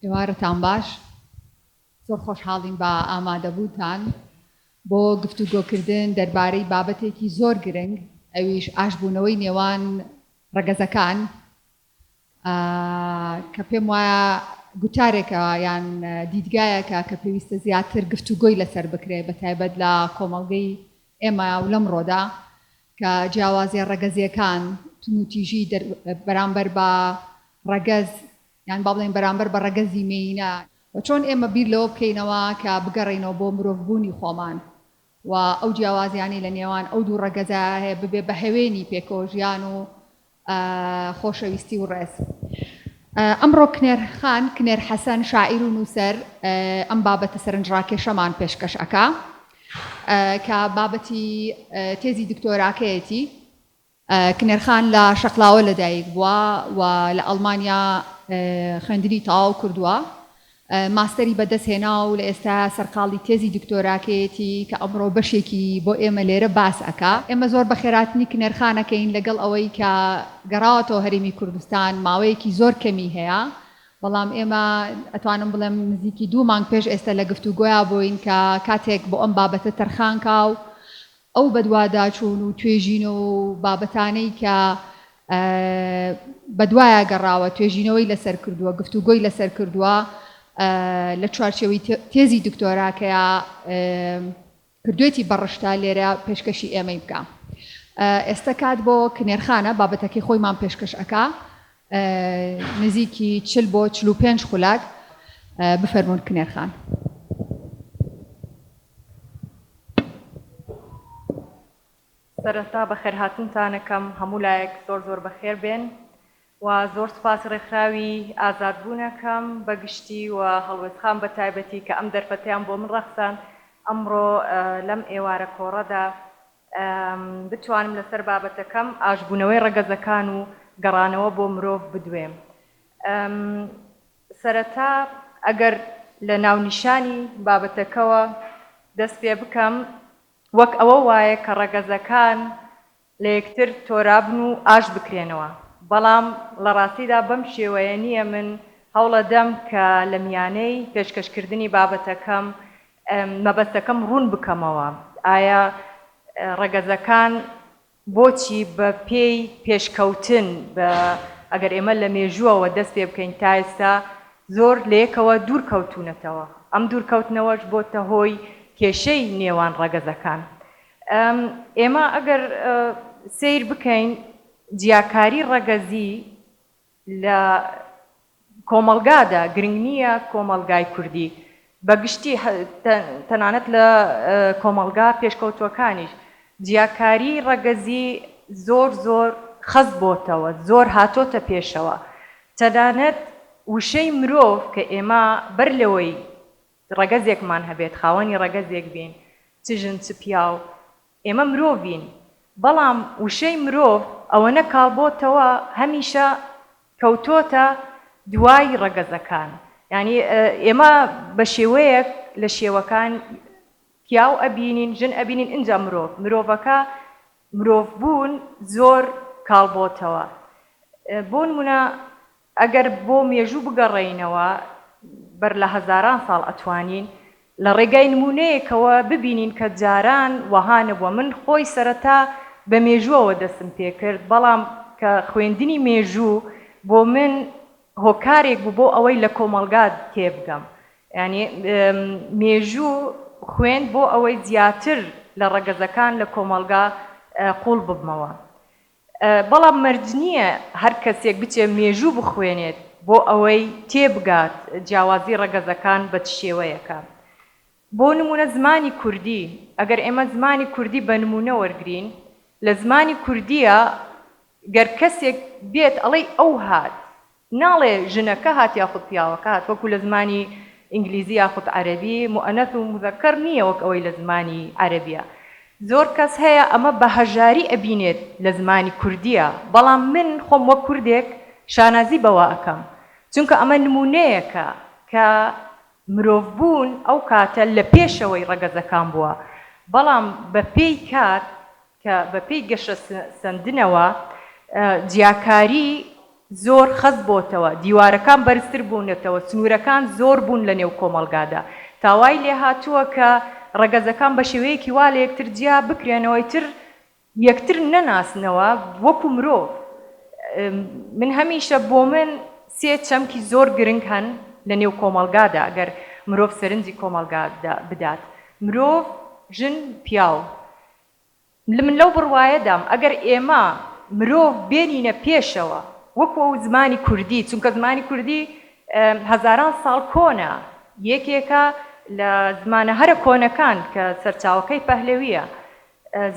ئێوارەتان باش زۆر خۆشحاڵین بە ئامادەبووتان بۆ گفتوگۆکردن دەربارەی بابەتێکی زۆر گرنگ ئەویش ئاشبوونەوەی نێوان ڕەگەزەکان کە پێم وایە گوتارێکە یان دیدگایەکە کە پێویستە زیاتر گفتوگۆی لەسەر بکرێت بە تایبەت لە کۆمەڵگەی ئێمە و لەمڕۆدا کە جیاوازیە ڕەگەزیەکان تونوتیژی بەرامبەر بە ڕەگەز یان با بڵێن بەرامبەر بە ڕەگەزی مێینە و چۆن ئێمە بیر لەوە بکەینەوە کە بگەڕێینەوە بۆ مرۆڤبوونی خۆمان و ئەو جیاوازیانەی لە نێوان ئەو دوو ڕەگەزە هەیە ببێ بە هەوێنی پێکەوە ژیان و خۆشەویستی و ڕێز. ئەمڕۆ کنێر خان، کنێر حەسەن، شاعیر و نووسەر ئەم بابەتە سەرنجڕاکێشەمان پێشکەش ئەکا کە بابەتی تێزی دکتۆراکەیەتی. کنێر خان لە شەقلاوە لەدایک بووە و لە ئەڵمانیا خوێندنی تەواو کردووە ماستەری بەدەست هێنا و لە ئێستایا سەرقاڵی تێزی دکتۆراکەیەتی کە ئەمڕۆ بەشێکی بۆ ئێمە لێرە باس ئەکا. ئێمە زۆر بە خێراتنی کنێرخانەکەین لەگەڵ ئەوەی کە گەڕاوەتەوە هەرێمی کوردستان ماوەیەکی زۆر کەمی هەیە بەڵام ئێمە ئەتوانم بڵێم نزیکی دوو مانگ پێش ئێستە لە گفتوگۆیا بووین کە کاتێک بۆ ئەم بابەتە تەرخان کا و ئەو بەدواداچوون و توێژینەوە و بابەتانەی کە بەدوایە گەڕاوە، توێژینەوەی لەسەر کردووە، گفتوگۆی لەسەر کردووە، لە چوارچێوەی تێزی دکتۆراکەیا کردووێتی بە ڕشتە، لێرە پێشکەشی ئێمەی بکا. ئێستە کات بۆ کنێرخانە، بابەتەکەی خۆیمان پێشکەش ئەکا. نزیکی چل بۆ چل و پێنج خولاک بفەرموون کنێر خان. سەرەتا بەخێرهاتنتان ئەکەم هەموو لایەک زۆر زۆر بەخێر بێن و زۆر سوپاس ڕێکخراوی ئازاد بوون ئەکەم بەگشتی و هەڵوێستخان بە تایبەتی کە ئەم دەرفەتەیان بۆ من ڕەخساند ئەمڕۆ لەم ئێوارە کۆڕەدا بتوانم لەسەر بابەتەکەم ئاشبوونەوەی ڕەگەزەکان و گەڕانەوە بۆ مرۆڤ بدوێم. سەرەتا ئەگەر لە ناونیشانی بابەتەکەوە دەست پێ بکەم، وەک ئەوە وایە کە ڕەگەزەکان لە یەکتر تۆرابن و ئاش بکرێنەوە، بەڵام لە ڕاستیدا بەم شێوەیە نییە، من هەوڵەدەم کە لە میانەی پێشکەشکردنی بابەتەکەم مەبەستەکەم ڕوون بکەمەوە، ئایا ڕەگەزەکان بۆچی بە پێی پێشکەوتن بە ئەگەر ئێمە لە مێژووەوە دەست پێ بکەین تا ئێستا زۆر لە یەکەوە دوور کەوتوونەتەوە، ئەم دوور کەوتنەوەش بۆتە هۆی کێشەی نێوان ڕەگەزەکان. ئێمە ئەگەر سەیر بکەین جیاکاری ڕەگەزی لە کۆمەڵگادا گرنگ نییە کۆمەڵگای کوردی بە گشتی تەنانەت لە کۆمەڵگا پێشکەوتووەکانیش جیاکاری ڕەگەزی زۆر زۆر خەست بۆتەوە زۆر هاتۆتە پێشەوە تەنانەت وشەی مرۆڤ کە ئێمە بەر لەوەی ڕەگەزێکمان هەبێت، خاوەنی ڕەگەزێک بین، چ ژن چ پیاو، ئێمە مرۆڤین، بەڵام وشەی مرۆڤ ئەوەنە کاڵبۆتەوە هەمیشە کەوتۆتە دوای ڕەگەزەکان، یانی ئێمە بە شێوەیەک لە شێوەکان پیاو ئەبینین، ژن ئەبینین ئینجا مرۆڤ، مرۆڤەکە مرۆڤ بوون زۆر کاڵبۆتەوە، بۆنمونە ئەگەر بۆ مێژوو بگەڕێینەوە بەر لە هەزاران ساڵ ئەتوانین لە ڕێگای نموونەیەکەوە ببینین کە جاران وەها نەبووە من خۆی سەرەتا بە مێژووەوە دەستم پێ کرد بەڵام کە خوێندنی مێژوو بۆ من هۆکارێک بوو بۆ ئەوەی لە کۆمەڵگا تێبگەم یانی مێژوو خوێند بۆ ئەوەی زیاتر لە ڕەگەزەکان لە کۆمەڵگا قووڵ ببمەوە. بەڵام مەرج نییە هەر کەسێک بچێت مێژوو بخوێنێت بۆ ئەوەی تێبگات جیاوازی ڕەگەزەکان بە چ شێوەیەکە. بۆ نموونە زمانی کوردی، ئەگەر ئێمە زمانی کوردی بە نموونە وەرگرین، لە زمانی کوردییە گەر کەسێک بێت ئەڵێی ئەو هات، ناڵێ ژنەکە هات یاخود پیاوەکە هات، وەکو لە زمانی ئینگلیزی یاخود عەرەبی، موئەنەث و موزەکەر نییە وەک ئەوەی لە زمانی عەرەبییە. زۆر کەس هەیە ئەمە بە هەژاری ئەبینێت لە زمانی کوردییە، بەڵام من خۆم وەک کوردێک شانازی بەوە ئەکەم، چونکە ئەمە نموونەیەکە کە مرۆڤبوون ئەو کاتە لە پێشەوەی ڕەگەزەکان بووە، بەڵام بە پێی کات کە بە پێی گەشە سەندنەوە جیاکاری زۆر خەست بۆتەوە، دیوارەکان بەرزتر بوونەتەوە، سنوورەکان زۆر بوون لە نێو کۆمەڵگادا، تا وای لێ هاتووە کە ڕەگەزەکان بە شێوەیەکی وا لە یەکتر جیا بکرێنەوە ئیتر یەکتر نەناسنەوە وەکوو مرۆڤ. من هەمیشە بۆ من سێ چەمکی زۆر گرنگ هەن لە نێو کۆمەڵگادا ئەگەر مرۆڤ سەرنجی کۆمەڵگا بدات، مرۆڤ، ژن، پیاو. من لەو بڕوایەدام ئەگەر ئێمە مرۆڤ بێنینە پێشەوە وەکو ئەو زمانی کوردی چونکە زمانی کوردی هەزاران ساڵ کۆنە یەکێکە لە زمانە هەرە کۆنەکان کە سەرچاوەکەی پەهلەویە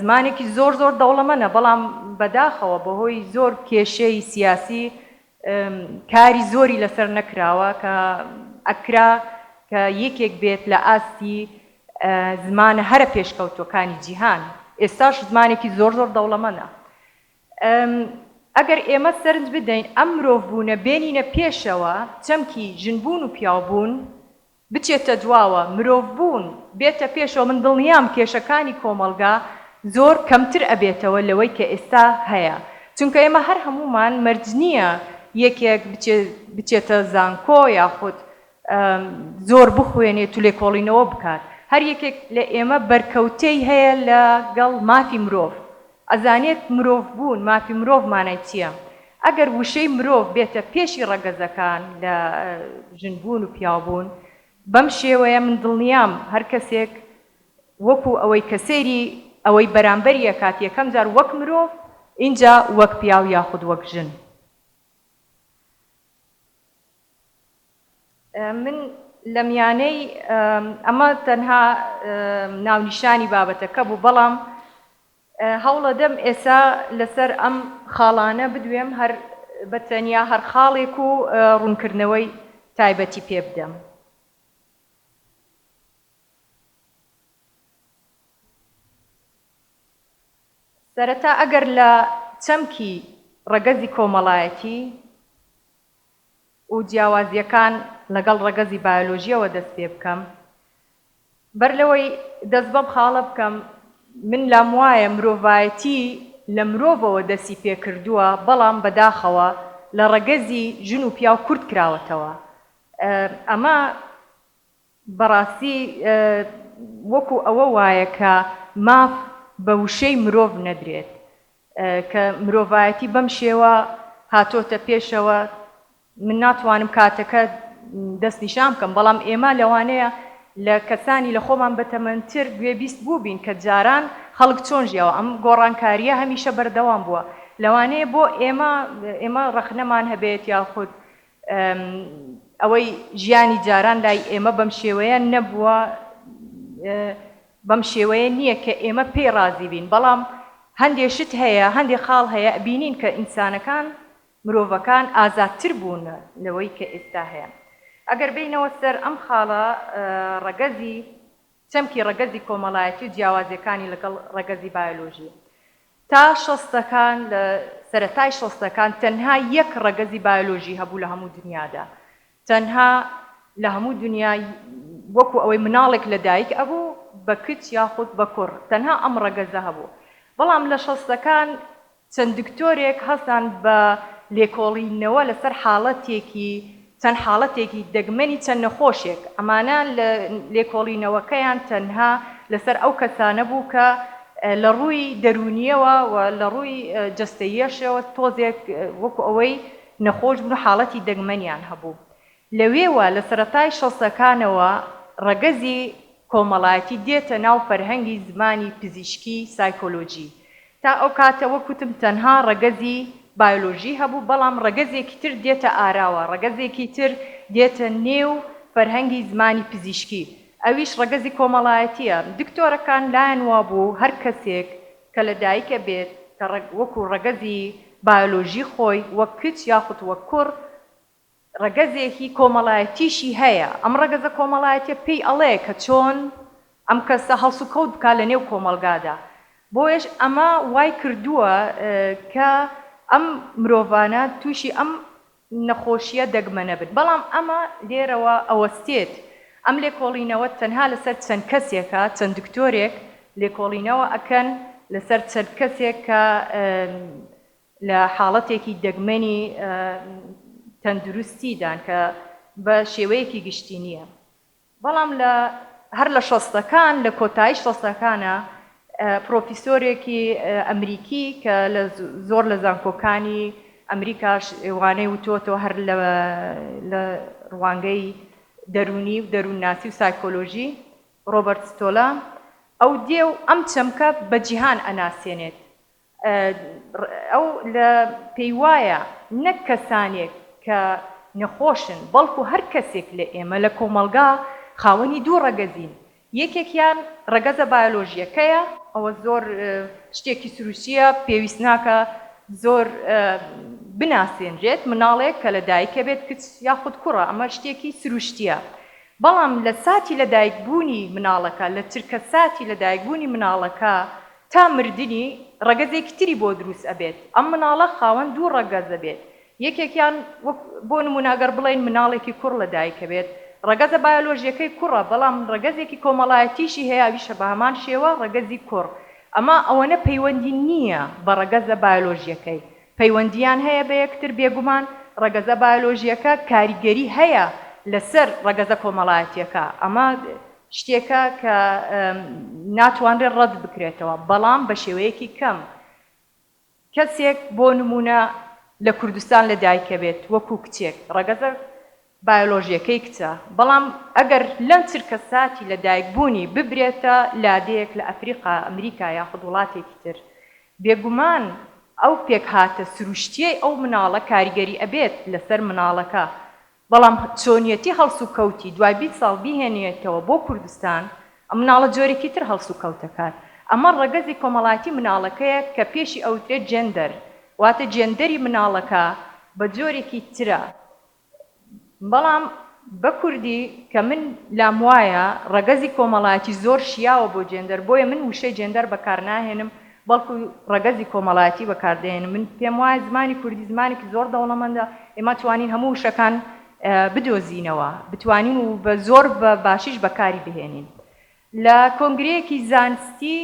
زمانێکی زۆر زۆر دەوڵەمەە بەڵام بەداخەوە بەهۆی زۆر کێشەی سیاسی کاری زۆری لەسەر نەکراوە کە ئەکرا کە یەکێک بێت لە ئاستی زمانە هەرە پێشکەوتوەکانی جیهان ئێستاش زمانێکی زۆر زۆر دەوڵەمەنە ئەگەر ئێمە سەرنج بدەین ئەم مرۆڤ بوونە بێنینە پێشەوە چەمکی ژن بوون و پیاو بوون بچێتە دواوە مرۆڤ بوون بێتە پێشەوە من دڵنیام کێشەکانی کۆمەڵگا زۆر کەمتر ئەبێتەوە لەوەی کە ئێستا هەیە چونکە ئێمە هەر هەموومان مەرج نییە یەکێک بچێتە زانکۆ یاخود زۆر بخوێنێت و لێکۆڵینەوە بکات هەر یەکێک لە ئێمە بەرکەوتەی هەیە لە گەڵ مافی مرۆڤ ئەزانێت مرۆڤ بوون مافی مرۆڤ مانای چیە ئەگەر وشەی مرۆڤ بێتە پێشی ڕەگەزەکان لە ژن بوون و پیاو بوون بەم شێوەیە من دڵنیام هەر کەسێک وەکو ئەوەی کە سەیری ئەوەی بەرامبەری ئەکات یەکەم جار وەک مرۆڤ ئینجا وەک پیاو یاخود وەک ژن. من لە میانەی ئەمە تەنها ناونیشانی بابەتەکە بوو بەڵام هەوڵەدەم ئێسا لەسەر ئەم خاڵانە بدوێم هەر بە تەنیا هەر خاڵێک و ڕوونکردنەوەی تایبەتی پێ بدەم. سەرەتا ئەگەر لە چەمکی ڕەگەزی کۆمەڵایەتی، و جیاوازییەکان لەگەڵ ڕەگەزی بایۆلۆژییەوە دەست پێ بکەم، بەر لەوەی دەست بەم خاڵە بکەم، من لام وایە مرۆڤایەتی لە مرۆڤەوە دەستی پێ کردووە، بەڵام بەداخەوە لە ڕەگەزی ژن و پیاو کورت کراوەتەوە. ئەمە. بەڕاستی وەکو ئەوە وایە کە ماف بە وشەی مرۆڤ نەدرێت کە مرۆڤایەتی بەم شێوە هاتۆتە پێشەوە من ناتوانم کاتەکە دەست نیشان بکەم بەڵام ئێمە لەوانەیە لە کەسانی لە خۆمان بەتەمەنتر گوێبیست بووبین کە جاران خەڵک چۆن ژیاوە ئەم گۆڕانکاریە هەمیشە بەردەوام بووە لەوانەیە بۆ ئێمە ئێمە ڕەخنەمان هەبێت یاخود ئەوەی ژیانی جاران لای ئێمە بەم شێوەیە نەبووە بەم شێوەیە نییە کە ئێمە پێی ڕازی بین بەڵام هەندێ شت هەیە هەندێ خاڵ هەیە بینین کە ئینسانەکان مرۆڤەکان ئازادتر بوون لەوەی کە ئێستا هەیە ئەگەر بینەوە سەر ئەم خاڵە ڕەگەزی چەمکی ڕەگەزی کۆمەڵایەتی و جیاوازیەکانی لەگەڵ ڕەگەزی بایۆلۆژی تا شەستەکان لە سەرەتای شەستەکان تەنها یەک ڕەگەزی بایۆلۆژی هەبوو لە هەموو دنیادا تەنها لە هەموو دنیا وەکو ئەوەی مناڵێک لە دایک ئەبوو بە کچ یاخود بە کوڕ تەنها ئەم ڕەگەزە هەبوو بەڵام لە شەستەکان چەند دکتۆرێک هەستان بە لێکۆڵینەوە لەسەر حاڵەتێکی چەند حاڵەتێکی دەگمەنی چەند نەخۆشێک، ئەمانە لە لێکۆڵینەوەکەیان تەنها لەسەر ئەو کەسانە بوو کە لە ڕووی دەروونییەوە و لە ڕووی جەستەییەشەوە تۆزێک وەکو ئەوەی نەخۆش بوون و حاڵەتی دەگمەنیان هەبوو لەوێوە لە سەرەتای شەستەکانەوە ڕەگەزی کۆمەڵایەتی دێتە ناو فەرهەنگی زمانی پزیشکی سایکۆلۆجی. تا ئەو کاتە وەک وتم تەنها ڕەگەزی بایۆلۆژی هەبوو، بەڵام ڕەگەزێکی تر دێتە ئاراوە، ڕەگەزێکی تر دێتە نێو فەرهەنگی زمانی پزیشکی، ئەویش ڕەگەزی کۆمەڵایەتییە. دکتۆرەکان لایان وابوو هەر کەسێک کە لە دایکە بێت کە وەکو ڕەگەزی بایۆلۆژی خۆی وەک کچ یاخود وەک کوڕ، ڕەگەزێکی کۆمەڵایەتیشی هەیە، ئەم ڕەگەزە کۆمەڵایەتیە پێی ئەڵێ کە چۆن ئەم کەسە هەڵسوکەوت بکا لە نێو کۆمەڵگادا، بۆیەش ئەمە وای کردووە کە ئەم مرۆڤانە تووشی ئەم نەخۆشیە دەگمەنە بن، بەڵام ئەمە لێرەوە ئەوەستێت ئەم لێکۆڵینەوە تەنها لەسەر چەند کەسێکە، چەند دکتۆرێک لێکۆڵینەوە ئەکەن لەسەر چەند کەسێک کە لە حاڵەتێکی دەگمەنی تەندروستیدان کە بە شێوەیەکی گشتی نییە بەڵام لە هەر لە شەستەکان لە کۆتایی شەستەکانە پرۆفیسۆرێکی ئەمریکی کە لە زۆر لە زانکۆکانی ئەمریکاش وانەی وتۆتەوە هەر لە ڕوانگەی دەرونی و دەروونناسی و سایکۆلۆژی ڕۆبەرت ستۆلا ئەو دێ و ئەم چەمکە بە جیهان ئەناسێنێت ئەو لە پێی وایە نەک کەسانێک کە نەخۆشن، بەڵکو هەر کەسێک لە ئێمە لە کۆمەڵگا خاوەنی دوو ڕەگەزین، یەکێکیان ڕەگەزە بایۆلۆژییەکەیە، ئەوە زۆر شتێکی سروشتییە پێویست ناکا زۆر بناسێنرێت، مناڵێک کە لە دایکە بێت کچ یاخود کوڕە ئەمە شتێکی سروشتییە، بەڵام لە ساتی لە دایکبوونی مناڵەکە لە چرکە ساتی لە دایکبوونی مناڵەکە تا مردنی ڕەگەزێکی تری بۆ دروست ئەبێت ئەم مناڵە خاوەن دوو ڕەگەز ئەبێت یەکێکیان وەک بۆ نمونە گەر بڵێین مناڵێکی کوڕ لە دایک ئەبێت ڕەگەزە بایۆلۆژیەکەی کوڕە بەڵام ڕەگەزێکی کۆمەڵایەتیشی هەیە ئەویشە بە هەمان شێوە ڕەگەزی کوڕ ئەمە ئەوەنە پەیوەندی نییە بە ڕەگەزە بایۆلۆژیەکەی پەیوەندیان هەیە بە یەکتر بێگومان ڕەگەزە بایۆلۆژیەکە کاریگەری هەیە لەسەر ڕەگەزە کۆمەڵایەتیەکە ئەمە شتێکە کە ناتوانرێت ڕەت بکرێتەوە، بەڵام بە شێوەیەکی کەم. کەسێک بۆ نموونە لە کوردستان لە دایکە بێت وەکوو کچێک، ڕەگەزە بایۆلۆژییەکەی کچە، بەڵام ئەگەر لەم چرکە ساتی لە دایک بوونی ببرێتە لادێیەک لە ئەفریقا، ئەمریکا یاخود وڵاتێکی تر، بێگومان ئەو پێکهاتە سروشتییەی ئەو مناڵە کاریگەری ئەبێت لەسەر مناڵەکە بەڵام چۆنیەتی هەڵسوکەوتی دوای بیست ساڵ بیهێنیێتەوە بۆ کوردستان، ئەم مناڵە جۆرێکی تر هەڵسوکەوت دەکات. ئەمە ڕەگەزی کۆمەڵایەتی مناڵەکەیە کە پێشی ئەوترێت جێندەر، واتە جێندەری مناڵەکە بە جۆرێکی ترە. بەڵام بە کوردی کە من لام وایە ڕەگەزی کۆمەڵایەتی زۆر شیاوە بۆ جێندەر، بۆیە من وشەی جێندەر بەکارناهێنم بەڵکو ڕەگەزی کۆمەڵایەتی بەکاردەهێنن من پێم وایە زمانی کوردی زمانێکی زۆر دەوڵەمەندە ئێمە توانین هەموو وشەکان بدۆزینەوە بتوانین و بە زۆر بە باشیش بەکاری بهێنین لە کۆنگرەیەکی زانستی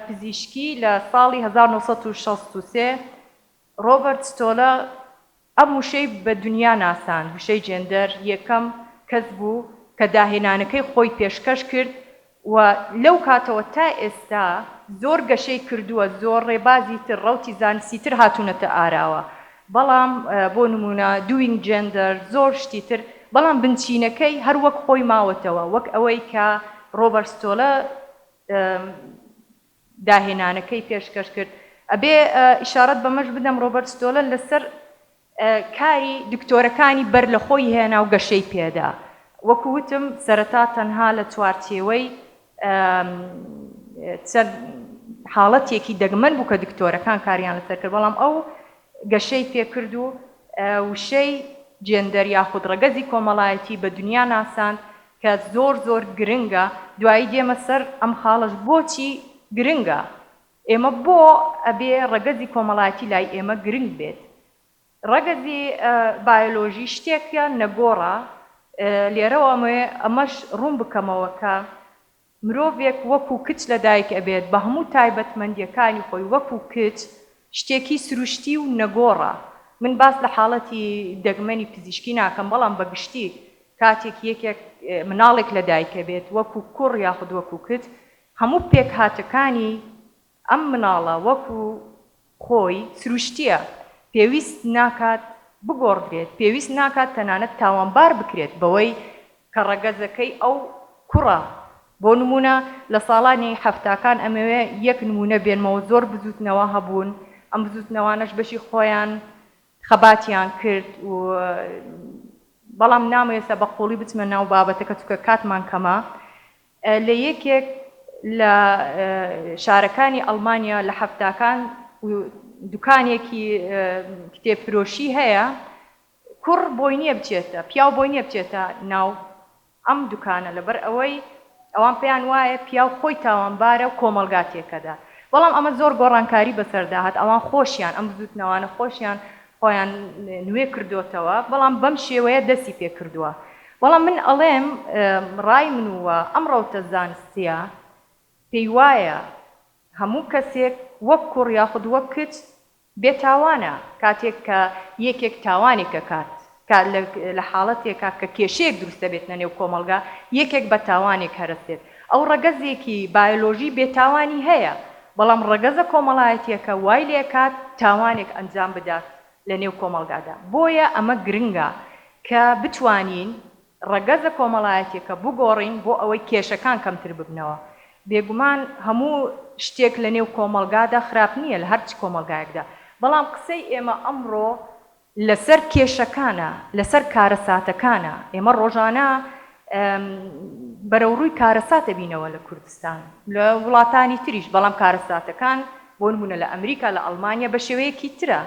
پزیشکی لە ساڵی هەزار و نۆ سەد و شەست و سێ ڕۆبەرت ستۆلە ئەم وشەی بە دونیا ناساند، وشەی جێندەر یەکەم کەس بوو کە داهێنانەکەی خۆی پێشکەش کرد و لەو کاتەوە تا ئێستا زۆر گەشەی کردووە، زۆر ڕێبازی تر، ڕەوتی زانستی تر هاتوونەتە ئاراوە، بەڵام بۆ نموونە Doing Gender زۆر شتی تر، بەڵام بنچینەکەی هەر وەک خۆی ماوەتەوە، وەک ئەوەی کە ڕۆبەرت ستۆلە. داهێنانەکەی پێشکەش کرد. ئەبێ ئیشارەت بەمەش بدەم ڕۆبەرت ستۆلن لەسەر کاری دکتۆرەکانی بەر لە خۆی هێنا و گەشەی پێدا. وەکو وتم سەرەتا تەنها لە چوارچێوەی چەند حاڵەتێکی دەگمەن بوو کە دکتۆرەکان کاریان لەسەر کرد بەڵام ئەو گەشەی پێ کرد و وشەی جێندەر یاخود ڕەگەزی کۆمەڵایەتی بە دنیا ناساند کە زۆر زۆر گرنگە دوایی دێمە سەر ئەم خاڵەش بۆچی گرنگە ئێمە بۆ ئەبێ ڕەگەزی کۆمەڵایەتی لای ئێمە گرنگ بێت ڕەگەزی بایۆلۆژی شتێکە نەگۆڕە لێرەوە ئەمەوێ ئەمەش ڕوون بکەمەوە کە مرۆڤێک وەکو کچ لەدایک ئەبێت بە هەموو تایبەتمەندیەکانی خۆی وەکو کچ شتێکی سروشتی و نەگۆڕە من باس لە حاڵەتی دەگمەنی پزیشکی ناکەم بەڵام بە گشتی کاتێک یەکێک مناڵێک لەدایک ئەبێت وەکو کوڕ یاخود وەکو کچ هەموو پێکهاتەکانی ئەم مناڵە وەکو خۆی سروشتیە پێویست ناکات بگۆڕدرێت، پێویست ناکات تەنانەت تاوانبار بکرێت بەوەی کە ڕەگەزەکەی ئەو کوڕە، بۆ نمونە لە ساڵانی حەفتاکان ئەمەوێ یەک نمونە بێنمەوە زۆر بزوتنەوە هەبوون ئەم بزوتنەوانەش بەشی خۆیان خەباتیان کرد و بەڵام نامەوێ ئێستا بە قوڵی بچمە ناو بابەتەکە چونکە کاتمان کەمە لە یەکێک لە شارەکانی ئەڵمانیا لە حەفتاکان دوکانێکی کتێب فرۆشی هەیە کوڕ بۆی نیە بچێتە پیاو بۆی نیە بچێتە ناو ئەم دوکانە لەبەر ئەوەی ئەوان پێیان وایە پیاو خۆی تاوانبارە و کۆمەڵگا تێکەدات بەڵام ئەمە زۆر گۆڕانکاری بەسەردا هات ئەوان خۆشیان ئەم بزوتنەوانە خۆشیان خۆیان نوێ کردۆتەوە بەڵام بەم شێوەیە دەستی پێ کردووە بەڵام من ئەڵێم ڕای من و ئەم ڕەوتە زانستیە پێی وایە هەموو کەسێک وەک کوڕ یاخود وەک کچ بێ تاوانە کاتێک کە یەکێک تاوانێک ئەکات کە لە حاڵەتێکا کە کێشەیەک دروست دەبێتنە نێو کۆمەڵگا یەکێک بە تاوانێک هەرەس دێت ئەو ڕەگەزێکی بایۆلۆژی بێ تاوانی هەیە، بەڵام ڕەگەزە کۆمەڵایەتیەکە وای لێکات تاوانێک ئەنجام بدات لە نێو کۆمەڵگادا. بۆیە ئەمە گرنگە کە بتوانین ڕەگەزە کۆمەڵایەتیەکە بگۆڕین بۆ ئەوەی کێشەکان کەمتر ببنەوە. بێگومان هەموو شتێک لە نێو کۆمەڵگادا خراپ نییە لە هەر چ کۆمەڵگایەکدا. بەڵام قسەی ئێمە ئەمڕۆ لەسەر کێشەکانە، لەسەر کارەساتەکانە، ئێمە ڕۆژانە بەرەوڕووی کارەسات ئەبینەوە لە کوردستان، لە وڵاتانی تریش، بەڵام کارەساتەکان بۆ نموونە لە ئەمریکا، لە ئەڵمانیا بە شێوەیەکی ترە،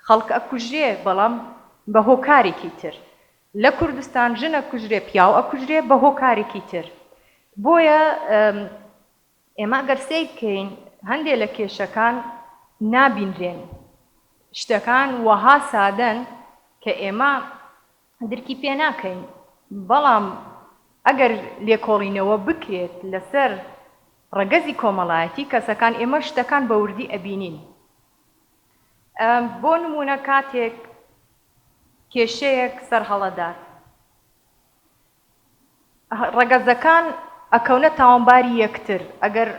خەڵک ئەکوژرێ بەڵام بە هۆکارێکی تر، لە کوردستان ژن ئەکوژرێ، پیاو ئەکوژرێ بە هۆکارێکی تر، بۆیە ئێمە گەر سەیر بکەین هەندێ لە کێشەکان نابینرێن، شتەکان وەها سادەن کە ئێمە درکی پێ ناکەین، بەڵام ئەگەر لێکۆڵینەوە بکرێت لەسەر ڕەگەزی کۆمەڵایەتی کەسەکان ئێمە شتەکان بە وردی ئەبینین. بۆ نموونە کاتێک کێشەیەک سەرهەڵەدات، ڕەگەزەکان ئەکەونە تاوانباری یەکتر ئەگەر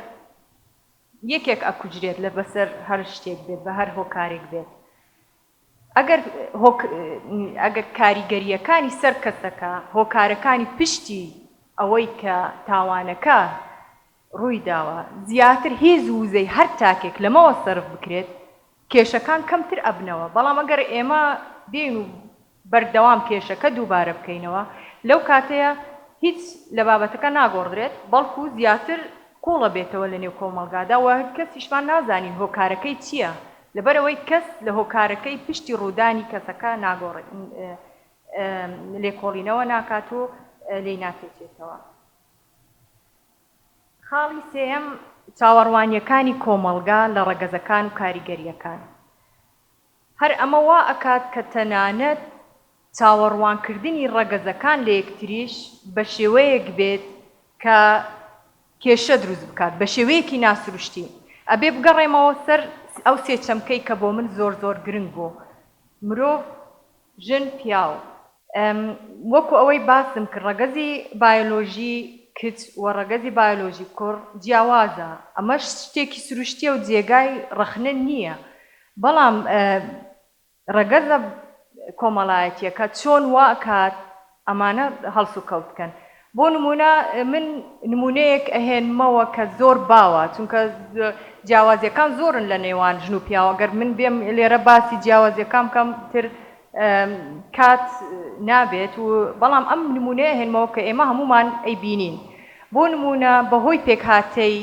یەکێک ئەکوژرێت لە بەسەر هەر شتێک بێت بە هەر هۆکارێک بێت ئەگەر ئەگەر کاریگەریەکانی سەر کەسەکە هۆکارەکانی پشتی ئەوەی کە تاوانەکە ڕوویداوە، زیاتر هیز و وزەی هەر تاکێک لەمەوە سەرف بکرێت کێشەکان کەمتر ئەبنەوە، بەڵام ئەگەر ئێمە بێین و بەردەوام کێشەکە دووبارە بکەینەوە لەو کاتەیە هیچ لە بابەتەکە ناگۆڕدرێت بەڵکو زیاتر قوڵ ئەبێتەوە لەنێو کۆمەڵگادا و کەسیشمان نازانین هۆکارەکەی چییە لەبەرئەوەی کەس لە هۆکارەکەی پشتی ڕوودانی کەسەکە ناگۆڕێت لێکۆڵینەوە ناکات و لێی ناتێکێتەوە. خاڵی سێیەم، چاوەڕوانییەکانی کۆمەڵگا لە ڕەگەزەکان و کاریگەرییەکان. هەر ئەمە وا ئەکات کە تەنانەت چاوەڕوانکردنی ڕەگەزەکان لە یەکتریش بە شێوەیەک بێت کە کێشە دروست بکات، بە شێوەیەکی ناسروشتی. ئەبێ بگەڕێمەوە سەر ئەو سێ چەمکەی کە بۆ من زۆر زۆر گرنگ بوو، مرۆڤ، ژن، پیاو، ەم، وەکو ئەوەی باسم کرد ڕەگەزی بایۆلۆژی کچ و ڕەگەزی بایۆلۆژی کوڕ جیاوازە، ئەمەش شتێکی سروشتیە و جێگای ڕەخنە نیە، بەڵام ڕەگەزە کۆمەڵایەتیەکە چۆن واکات ئەمانە هەڵس و کەوت بکەن بۆ نمونە من نمونەیەک ئەهێنمەوە کە زۆر باوە چونکە جیاوازیەکان زۆرن لە نێوان ژن و پیاوە گەر من بێم لێرە باسی جیاوازیەکان کەم تر کات نابێت و بەڵام ئەم نمونەیە هێنمەوە کە ئێمە هەمومان ئەی بینین بۆ نمونە بەهۆی پێکهاتەی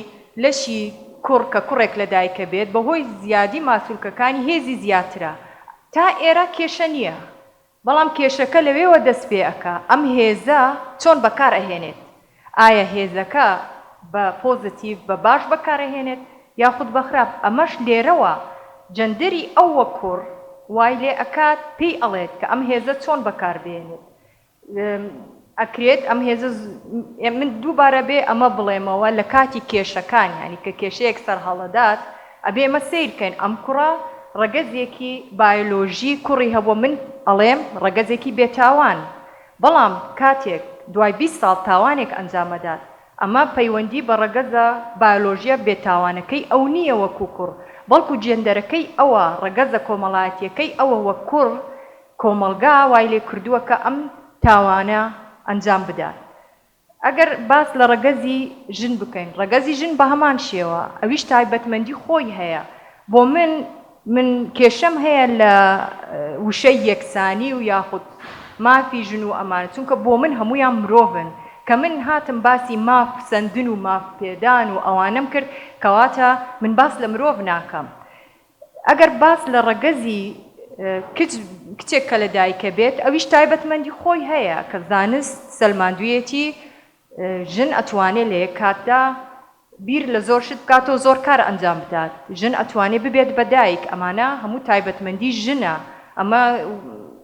لەشی کوڕ کە کوڕێک لە دایکە بێت بەهۆی زیادی ماسولکەکانی هێزی زیاترە تا ئێرە کێشە نییە بەڵام کێشەکە لەوێوە دەست پێ ئەکا ئەم هێزە چۆن بەکار ئەهێنێت ئایا هێزەکە بە پۆزەتیڤ بە باش بەکار ئەهێنێت یاخود بە خراپ ئەمەش لێرەوە جەندەری ئەو وەک کوڕ وای لێ ئەکات پێی ئەڵێت کە ئەم هێزە چۆن بەکار بێنێت. ئەکرێت ئەم هێزە من دووبارە بێ ئەمە بڵێمەوە لە کاتی کێشەکان یانی کە کێشەیەک سەر هەڵەدات ئەبێ ئێمە سەیر بکەین ئەم کوڕە ڕەگەزێکی بایۆلۆژی کوڕی هەبووە من ئەڵێم ڕەگەزێکی بێ تاوان بەڵام کاتێک دوای بیست ساڵ تاوانێک ئەنجام ئەدات ئەمە پەیوەندی بە ڕەگەزە بایۆلۆژیە بێ تاوانەکەی ئەو نییە وەکوو کوڕ بەڵکوو جێندەرەکەی ئەوە ڕەگەزە کۆمەڵایەتییەکەی ئەوە وەک کوڕ کۆمەڵگا وای لێ کردووە کە ئەم تاوانە ئەنجام بدات. ئەگەر باس لە ڕەگەزی ژن بکەین، ڕەگەزی ژن بە هەمان شێوە، ئەویش تایبەتمەندی خۆی هەیە. بۆ من، من کێشەم هەیە لە وشەی یەکسانی و یاخود مافی ژن و ئەمانە، چونکە بۆ من هەموویان مرۆڤن. کە من هاتم باسی ماف سەندن و ماف پێدان و ئەوانەم کرد، کەواتە من باس لە مرۆڤ ناکەم. ئەگەر باس لە ڕەگەزی کچ، کچێک کە لە دایکە بێت، ئەویش تایبەتمەندی خۆی هەیە کە زانست سەلماندوویەتی ژن ئەتوانێ لە یەک کاتدا بیر لە زۆر شت بکات و زۆر کار ئەنجام بدات، ژن ئەتوانێ ببێت بە دایک، ئەمانە هەموو تایبەتمەندی ژنە، ئەمە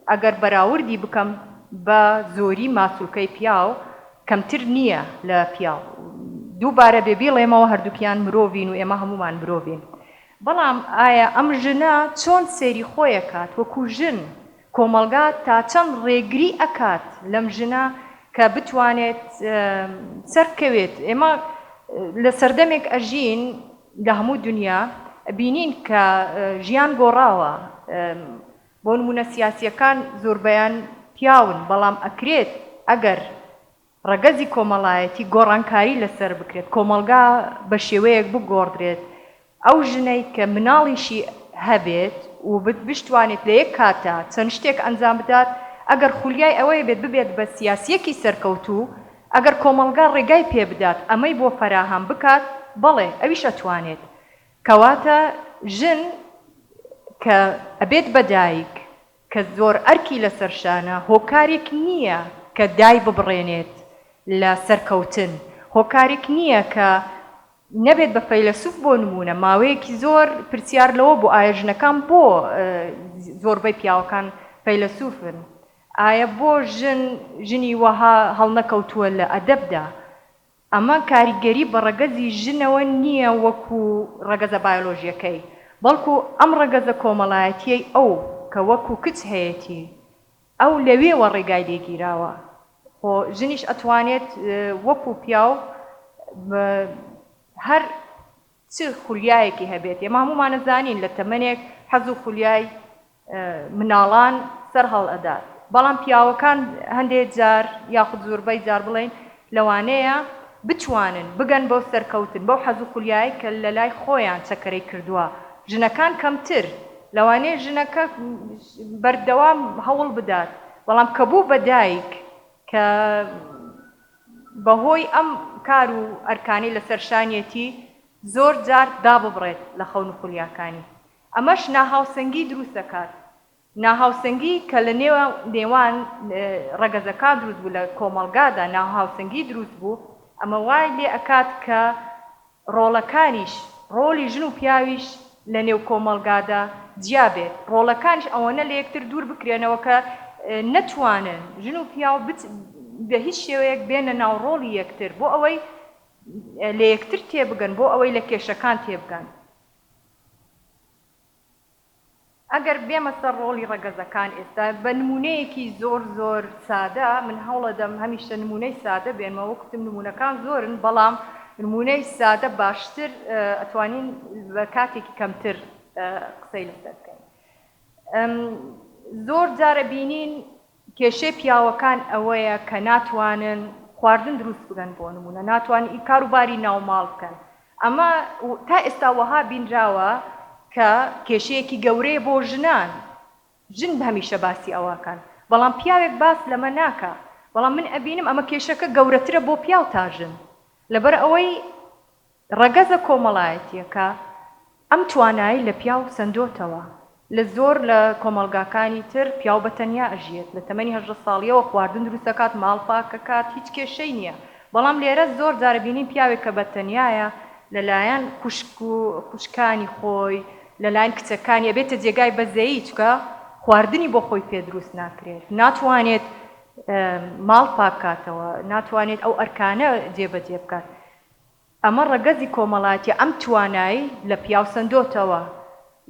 ئەگەر بەراوردی بکەم بە زۆری ماسولکەی پیاو کەمتر نییە لە پیاو، دووبارە بێ بیڵێمەوە هەردووکیان مرۆڤین و ئێمە هەموومان مرۆڤین، بەڵام ئایا ئەم ژنە چۆن سەیری خۆیەکات وەکو ژن؟ کۆمەڵگا تا چەند ڕێگری ئەکات لەم ژنە کە بتوانێت سەربکەوێت؟ ئێمە لە سەردەمێک ئەژین لە هەموو دونیا ئەبینین کە ژیان گۆڕاوە، بۆ نمونە سیاسیەکان زۆربەیان پیاون، بەڵام ئەکرێت ئەگەر ڕەگەزی کۆمەڵایەتی گۆڕانکاری لەسەر بکرێت، کۆمەڵگا بە شێوەیەک بگۆڕدرێت ئەو ژنەی کە مناڵیشی هەبێت و بشتوانێت لە یەک کاتدا چەند شتێک ئەنجام بدات، ئەگەر خولیای ئەوەی بێت ببێت بە سیاسییەکی سەرکەوتوو، ئەگەر کۆمەڵگا ڕێگای پێ بدات ئەمەی بۆ فەراهەم بکات، بەڵێ ئەویش ئەتوانێت. کەواتە ژن کە ئەبێت بە دایک، کە زۆر ئەرکی لەسەر شانە، هۆکارێک نییە کە دایببڕێنێت لە سەرکەوتن، هۆکارێک نییە کە نەبێت بە فەیلەسوف، بۆ نموونە ماوەیەکی زۆر پرسیار لەوە بوو ئایا ژنەکان بۆ زۆربەی پیاوەکان فەیلەسوفن؟ ئایا بۆ ژن ژنی وەها هەڵنەکەوتووە لە ئەدەبدا؟ ئەمە کاریگەری بە ڕەگەزی ژنەوە نییە وەکو ڕەگەزە بایۆلۆژییەکەی، بەڵکو ئەم ڕەگەزە کۆمەڵایەتییەی ئەو کە وەکو کچ هەیەتی، ئەو لەوێوە ڕێگای لێ گیراوە، خۆ ژنیش ئەتوانێت وەکو پیاو هەر چ خولیایەکی هەبێت ئێمە هەموومان ئەزانین لە تەمەنێک حەز و خولیای مناڵان سەر هەڵ ئەدات بەڵام پیاوەکان هەندێک جار یاخود زوربەی جار بڵێین لەوانەیە بتوانن بگەن بەو سەرکەوتن بەو حەز و خولیایەی کە لە لای خۆیان چەکەرەی کردوە ژنەکان کەمتر لەوانەیە ژنەکە بەردەوام هەوڵ بدات بەڵام کە بوو بە دایک کە بەهۆی ئەم کار و ئەرکانەی لەسەر شانیەتی زۆر جار داببڕێت لە خەون و خولیاکانی ئەمەش ناهاوسەنگی دروست دەکات ناهاوسەنگی کە لە نێوان ڕەگەزەکان دروست بوو لە کۆمەڵگادا ناهاوسەنگی دروست بوو ئەمە وای لێ ئەکات کە ڕۆڵەکانیش، ڕۆڵی ژن و پیاویش لە نێو کۆمەڵگادا جیا بێت، ڕۆڵەکانیش ئەوەنە لە یەکتر دوور بکرێنەوە کە نەتوانن ژن و پیاو بە هیچ شێوەیەک بێنە ناو ڕۆڵی یەکتر بۆ ئەوەی لە یەکتر تێبگەن، بۆ ئەوەی لە کێشەکان تێبگەن. ئەگەر بێمە سەر ڕۆڵی ڕەگەزەکان ئێستا بە نموونەیەکی زۆر زۆر سادە، من هەوڵەدەم هەمیشە نموونەی سادە بێنمە، وەک وتم نموونەکان زۆرن بەڵام نموونەی سادە باشتر ئەتوانین بە کاتێکی کەمتر قسەی لەسەر بکەین زۆر جار ئەبینین، کێشەی پیاوەکان ئەوەیە کە ناتوانن خواردن دروست بکەن بۆ نموونە ناتوانن ئی کارو باری ناو ماڵ بکەن ئەمە تا ئێستا وەها بینراوە کە کێشەیەکی گەورەیە بۆ ژنان ژن هەمیشە باسی ئەوەکەن بەڵام پیاوێک باس لەمە ناکا بەڵام من ئەبینم ئەمە کێشەکە گەورەترە بۆ پیاو تا ژن لەبەر ئەوەی ڕەگەزە کۆمەڵایەتییەکە ئەم توانایەی لە پیاو سەندۆتەوە، لە زۆر لە کۆمەڵگاکانی تر پیاو بە تەنیا ئەژیێت، لە تەمەنی هەژدە ساڵییەوە خواردن دروست ئەکات، ماڵ پاک ئەکات، هیچ کێشەی نییە، بەڵام لێرە زۆر جار ئەبینین پیاوێک کە بە تەنیایە لە لایەن خوشک و خوشکانی خۆی، لە لایەن کچەکانی ئەبێتە جێگای بەزەیی، چونکە خواردنی بۆ خۆی پێ دروست ناکرێت، ناتوانێت ماڵ پاک کاتەوە، ناتوانێت ئەو ئەرکانە جێ بە جێ بکات. ئەمە ڕەگەزی کۆمەڵایەتیە ئەم توانای لە پیاو سەندۆتەوە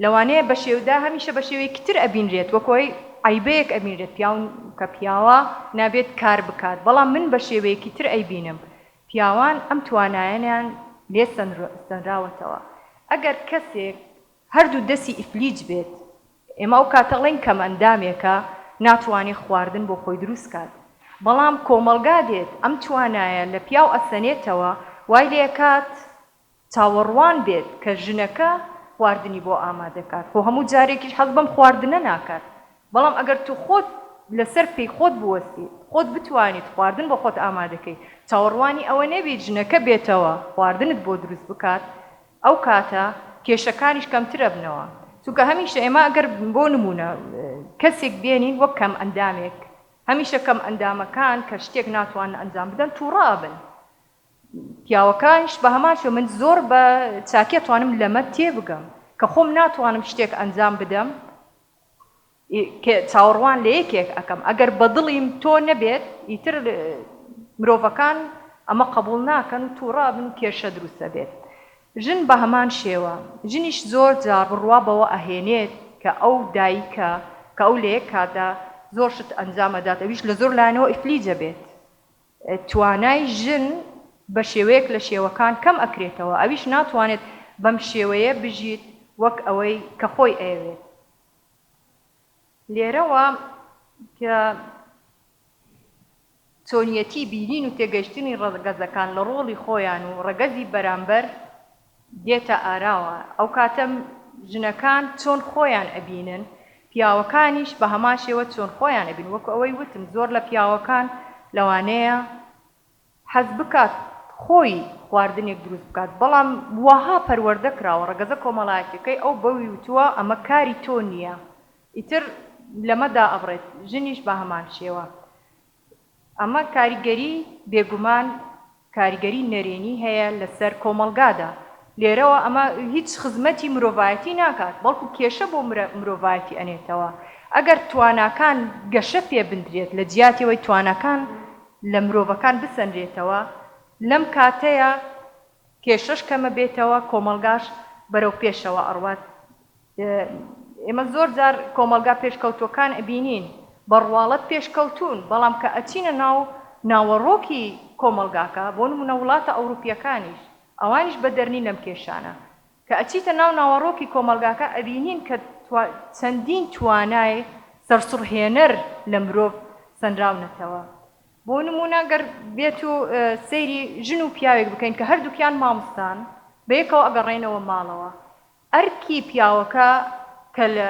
لەوانەیە بەشێودا هەمیشە بەشێوەیەکی تر ئەبینرێت وەک هۆی عەیبەیەک ئەبینرێت پیاو کە پیاوە نابێت کار بکات بەڵام من بەشێوەیەکی تر ئەیبینم پیاوان ئەم توانایەنیان لێ سەنراوەتەوە ئەگەر کەسێک هەردوو دەسی ئیفلیج بێت ئێمە ئەو کاتە ئەڵێین کەمئەندامێکە ناتوانێت خواردن بۆ خۆی دروست کات بەڵام کۆمەڵگا دێت ئەم توانایە لە پیاو ئەسەنێتەوە وای لێ ئەکات چاوەڕوان بێت کە ژنەکە خواردنی بۆ ئامادە کات خۆ هەموو جارێکیش حەز بەم خواردنە ناکات بەڵام ئەگەر تو خۆت لەسەر پێی خۆت بوەستیت خۆت بتوانیت خواردن بۆ خۆت ئامادە کەیت چاوەڕوانی ئەوە نەبیت ژنەکە بێتەوە خواردنت بۆ دروست بکات ئەو کاتە کێشەکانیش کەمتر ئەبنەوە چونکە هەمیشە ئێمە ئەگەر بۆ نموونە کەسێک بێنین وەک کەمئەندامێک هەمیشە کەمئەندامەکان کە شتێک ناتوانن ئەنجام بدەن تووڕە ئەبن پیاوەکانیش بە هەمان شێوە من زۆر بە چاکی ئەتوانم لەمە تێبگەم کە خۆم ناتوانم شتێک ئەنجام بدەم ی کە چاوەڕوان لە یەکێک ئەکەم ئەگەر بە دڵیم تۆ نەبێت ئیتر مرۆڤەکان ئەمە قەبوڵ ناکەن و توڕە ئەبن و کێشە دروست ئەبێت ژن بە هەمان شێوە ژنیش زۆر جار بڕوا بەوە ئەهێنێت کە ئەو دایکە کە ئەو لە یەک کاتدا زۆر شت ئەنجام ئەدات ئەویش لە زۆر لایەنەوە ئیفلیج ئەبێت توانای ژن بە شێوەیەک لە شێوەکان کەم ئەکرێتەوە ئەویش ناتوانێت بەم شێوەیە بژیت وەک ئەوەی کە خۆی ئەیەوێت لێرەوە کە چۆنیەتی بینین و تێگەیشتنی ڕەگەزەکان لە ڕۆڵی خۆیان و ڕەگەزی بەرامبەر دێتە ئاراوە، ئەو کاتە ژنەکان چۆن خۆیان ئەبینن، پیاوەکانیش بە هەمان شێوە چۆن خۆیان ئەبینن، وەکو ئەوەی وتم زۆر لە پیاوەکان لەوانەیە حەز بکات خۆی خواردنێک دروست بکات بەڵام واها پەروەردە کراوە ڕەگەزە کۆمەڵایەتیەکەی ئەو بەوی وتووە ئەمە کاری تۆ نیە ئیتر لەمە دائەبڕێت ژنیش بە هەمان شێوە ئەمە کاریگەری بێگومان کاریگەری نەرێنی هەیە لەسەر کۆمەڵگادا لێرەوە ئەمە هیچ خزمەتی مرۆڤایەتی ناکات بەڵکو کێشە بۆ مرۆڤایەتی ئەنێتەوە ئەگەر تواناکان گەشە پێ بندرێت لە جیاتی ئەوەی تواناکان لە مرۆڤەکان بسەنرێتەوە، لەم کاتەیا کێشەش کەمە بێتەوە، کۆمەڵگاش بەرەو پێشەوە ئەڕوات، ئێمە زۆر جار کۆمەڵگا پێشکەوتوەکان ئەبینین، بە ڕواڵەت پێشکەوتوون، بەڵام کە ئەچینە ناو ناوەڕۆکی کۆمەڵگاکە، بۆ نمونە وڵاتە ئەوروپیەکانیش، ئەوانیش بەدەرنین لەم کێشانە، کە ئەچیتە ناو ناوەڕۆکی کۆمەڵگاکە ئەبینین کە چەندین توانای سەرسوڕهێنەر لە مرۆڤ سەنراونەتەوە بۆ نمونە گەر بێت و سەیری ژن و پیاوێک بکەین کە هەردووکیان مامستان بەیەکەوە ئەگەڕێنەوە ماڵەوە ئەرکی پیاوەکە کە لە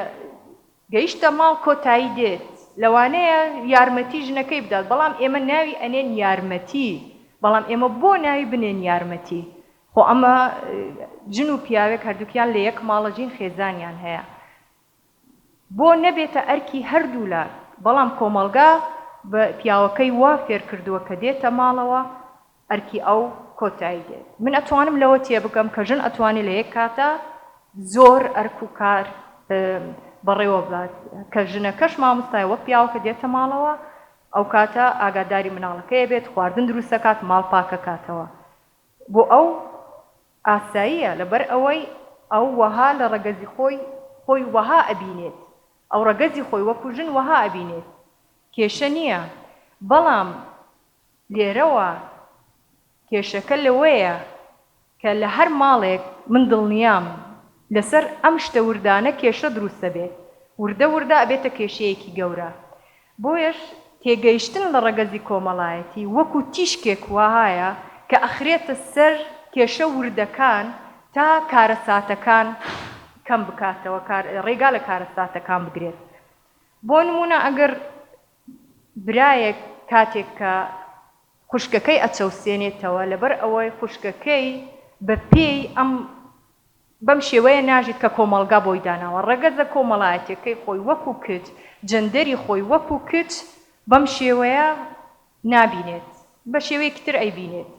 گەیشتە ماڵ کۆتایی دێت لەوانەیە یارمەتی ژنەکەی بدات بەڵام ئێمە ناوی ئەنێن یارمەتی بەڵام ئێمە بۆ ناوی بنێن یارمەتی خۆ ئەمە ژن و پیاوێک هەردووکیان لە یەک ماڵە جین خێزانیان هەیە بۆ نەبێتە ئەرکی هەردوولا بەڵام کۆمەڵگا بە پیاوەکەی وا فێر کردووە کە دێتە ماڵەوە ئەرکی ئەو کۆتایی دێت من ئەتوانم لەوە تێبگەم کە ژن ئەتوانێت لە یەک کاتا زۆر ئەرک و کار بەڕێوە بات کە ژنەکەش مامۆستای وەک پیاوەکە دێتە ماڵەوە ئەو کاتە ئاگاداری مناڵەکەی بێت خواردن دروستەکات ماڵ پاکەکاتەوە بۆ ئەو ئاساییە لەبەر ئەوەی ئەو وەها لە ڕەگەزی خۆی خۆی وەها ئەبینێت ئەو ڕەگەزی خۆی وەکو ژن وەها ئەبینێت کێشە نییە بەڵام لێرەوە کێشەکە لەوەیە کە لە هەر ماڵێک من دڵنیام لەسەر ئەم شتە وردانە کێشە دروست ئەبێت وردە وردە ئەبێتە کێشەیەکی گەورە بۆیەش تێگەیشتن لە ڕەگەزی کۆمەڵایەتی وەکو تیشکێک وەهایە کە ئەخرێتە سەر کێشە وردەکان تا کارەساتەکان کەم بکاتەوە ڕێگا لە کارەساتەکان بگرێت بۆ نمونە ئەگەر برایەک کاتێک کە خوشکەکەی ئەچەوسێنێتەوە لەبەر ئەوەی خوشکەکەی بە پێی ئەم بەم شێوەیە ناژیت کە کۆمەڵگا بۆی داناوە. ڕەگەزە کۆمەڵایەتیەکەی خۆی وەکو کچ، جەندەری خۆی وەکو کچ بەم شێوەیە نابینێت. بە شێوەیەکی تر ئەیبینێت.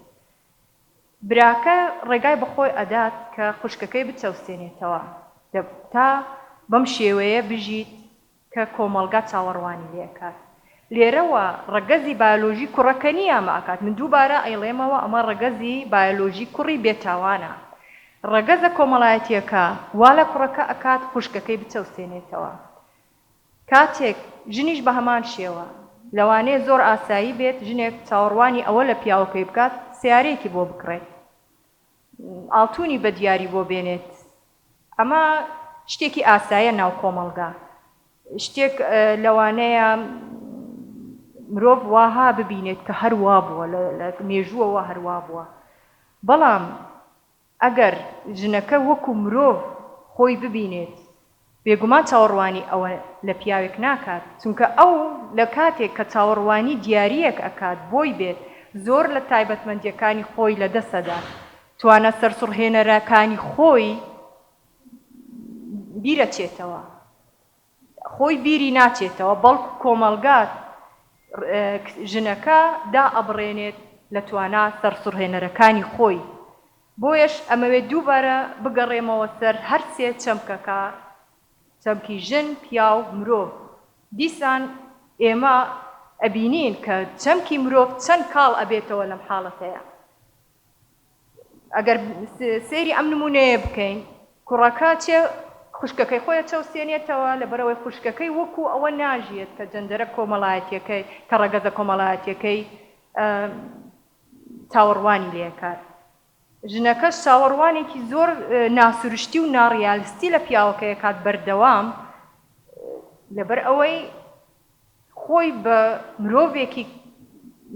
براکە ڕێگای بە خۆی ئەدات کە خوشکەکەی بچەوسێنێتەوە تا بەم شێوەیە بژیت کە کۆمەڵگا چاوەڕوانی لێکات لێرەوە ڕەگەزی بایۆلۆژی کوڕەکە نیامە ئەکات من دووبارە ئەیڵێمەوە ئەمە ڕەگەزی بایۆلۆژی کوڕی بێ تاوانە ڕەگەزە کۆمەڵایەتیەکە وا لە کوڕەکە ئەکات خوشکەکەی بچەوسێنێتەوە کاتێک ژنیش بە هەمان شێوە لەوانەیە زۆر ئاسایی بێت ژنێک چاوەڕوانی ئەوە لە پیاوەکەی بکات سەیارەیەکی بۆ بکڕێت ئاڵتونی بە دیاری بۆ بێنێت ئەمە شتێکی ئاسایە ناو کۆمەڵگا شتێک لەوانەیە مرۆڤ واها ببینێت کە هەر وا بووە لە مێژووەوە هەر وا بووە بەڵام ئەگەر ژنەکە وەکو مرۆڤ خۆی ببینێت بێگومان چاوەڕوانی ئەوە لە پیاوێک ناکات، چونکە ئەو لە کاتێک کە چاوەڕوانی دیارییەک ئەکات بۆی بێت، زۆر لە تایبەتمەندییەکانی خۆی لە دەست ئەدات، توانا سەرسوڕهێنەرەکانی خۆی بیر ئەچێتەوە، خۆی بیری ناچێتەوە، بەڵکو کۆمەڵگا ژنەکە دا ئەبڕێنێت لە توانا سەرسوڕهێنەرەکانی خۆی. بۆیەش ئەمەوێت دووبارە بگەڕێمەوە سەر هەر سێ چەمکەکە، چەمکی ژن، پیاو، مرۆڤ. دیسان ئێمە ئەبینین کە چەمکی مرۆڤ چەند کاڵ ئەبێتەوە لەم حاڵەتەیا. ئەگەر سەیری ئەم نموونەیە بکەین، کوڕەکە چێ خوشکەکەی خۆی ئەچەوسێنێتەوە، لەبەرئەوەی خوشکەکەی وەکوو ئەوە ناژیێت کە جەندەرە کۆمەڵایەتییەکەی، کە ڕەگەزە کۆمەڵایەتییەکەی چاوەڕوانی لێکات. ژنەکەش چاوەڕوانێکی زۆر ناسروشتی و ناڕیالستی لە پیاوەکە ئەکات بەردەوام لەبەر ئەوەی خۆی بە مرۆڤێکی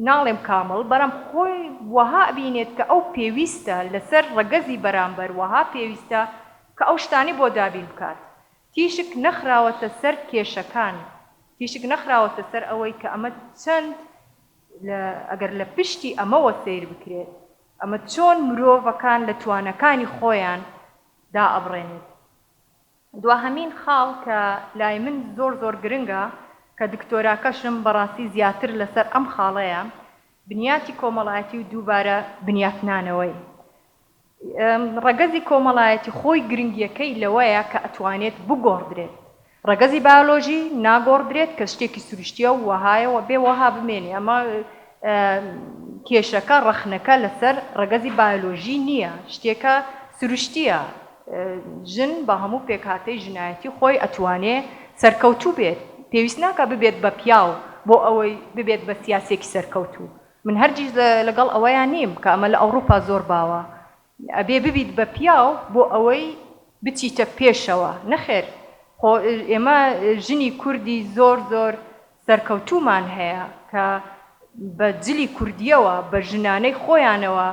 ناڵێم کامڵ بەرام خۆی وەها ئەبینێت کە ئەو پێویستە لەسەر ڕەگەزی بەرامبەر وەها پێویستە کە ئەو شتانەی بۆ دابین بکات تیشک نەخراوەتە سەر کێشەکان تیشک نەخراوەتە سەر ئەوەی کە ئەمە چەند ئەگەر لە پشتی ئەمەوە سەیر بکرێت، ئەمە چۆن مرۆڤەکان لە توانەکانی خۆیان دائەبڕێنێت؟ دواهەمین خاڵ کە لای من زۆر زۆر گرنگە کە دکتۆراکەشم بەڕاستی زیاتر لەسەر ئەم خاڵەیە، بنیاتی کۆمەڵایەتی و دووبارە بنیاتنانەوەی. ڕەگەزی کۆمەڵایەتی خۆی گرنگیەکەی لەوەیە کە ئەتوانێت بگۆڕدرێت، ڕەگەزی بایۆلۆژی ناگۆڕدرێت کە شتێکی سروشتیە و وەهایە و ئەبێ وەها بمێنێ، ئەمە کێشەکە ڕەخنەکە لەسەر ڕەگەزی بایۆلۆژی نیە، شتێکە سروشتیە، ژن بە هەموو پێکهاتەی ژنایەتی خۆی ئەتوانێ سەرکەوتوو بێت، پێویست ناکا ببێت بە پیاو بۆ ئەوەی ببێت بە سیاسیەکی سەرکەوتوو، من هەرگیز لەگەڵ ئەوەیا نیم کە ئەمە لە ئەوڕوپا زۆر باوە ئەبێ ببیت بە پیاو بۆ ئەوەی بچیتە پێشەوە نەخێر خۆ ئێمە ژنی کوردی زۆر زۆر سەرکەوتوومان هەیە کە بە جلی کوردیەوە بە ژنانەی خۆیانەوە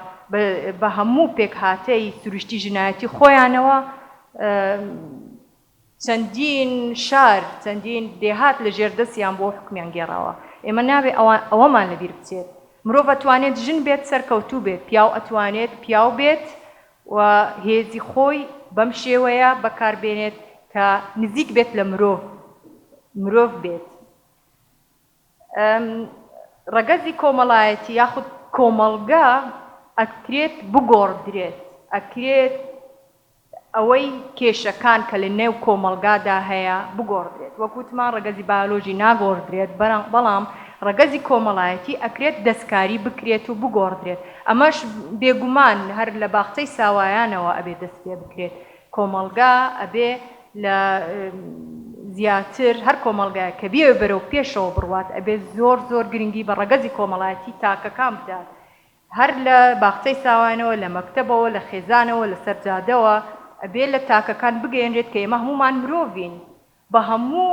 بە هەموو پێکهاتەی سروشتی ژنایەتی خۆیانەوە چەندین شار، چەندین دێهات لە ژێر دەستیان بووە و حوکمیان گێڕاوە. ئێمە نابێ ئەوەمان لەبیر بچێت. مرۆڤ ئەتوانێت ژن بێت سەرکەوتوو بێت، پیاو ئەتوانێت پیاو بێت و هێزی خۆی بەم شێوەیە بەکار بێنێت کە نزیک بێت لە مرۆڤ، مرۆڤ بێت. ڕەگەزی کۆمەڵایەتی یاخود کۆمەڵگە ئەکرێت بگۆڕدرێت، ئەکرێت ئەوەی کێشەکان کە لە نێو کۆمەڵگادا هەیە بگۆڕدرێت، وەک وتمان ڕەگەزی بایۆلۆژی ناگۆڕدرێت، بەڵام ڕەگەزی کۆمەڵایەتی ئەکرێت دەستکاری بکرێت و بگۆڕدرێت، ئەمەش بێگومان هەر لە باخچەی ساوایانەوە ئەبێت دەست پێ بکرێت، کۆمەڵگا ئەبێ لە زیاتر هەر کۆمەڵگایەک کە بیەوێ بەرەو پێشەوە بڕوات ئەبێ زۆر زۆر گرنگی بە ڕەگەزی کۆمەڵایەتی تاکەکان بدات هەر لە باخچەی ساوایانەوە لە مەکتەبەوە لە خێزانەوە لەسەر جادەوە ئەبێ لە تاکەکان بگەیەنرێت کە ئێمە هەموومان مرۆڤین بە هەموو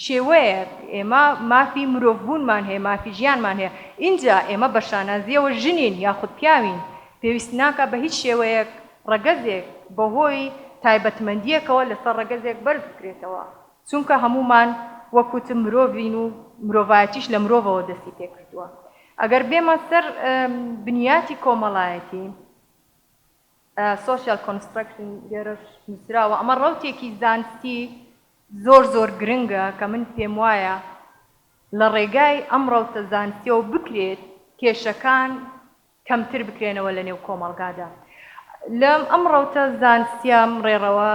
شێوەیەک ئێمە مافی مرۆڤبوونمان هەیە، مافی ژیانمان هەیە، ئینجا ئێمە بە شانازییەوە ژنین یاخود پیاوین، پێویست ناکات بە هیچ شێوەیەک ڕەگەزێک بەهۆی تایبەتمەندییەکەوە لەسەر ڕەگەزێک بەرز بکرێتەوە، چونکە هەموومان وەک وتم مرۆڤین و مرۆڤایەتیش لە مرۆڤەوە دەستی پێ کردووە. ئەگەر بێمە سەر بنیاتی کۆمەڵایەتی. Social Construction لێرەش نووسراوە ئەمە ڕەوتێکی زانستی زۆر زۆر گرنگە کە من پێم وایە لە ڕێگای ئەم ڕەوتە زانستیەوە بکرێت کێشەکان کەمتر بکرێنەوە لە نێو کۆمەڵگادا لەم ئەم ڕەوتە زانستیە ئەم ڕێڕەوە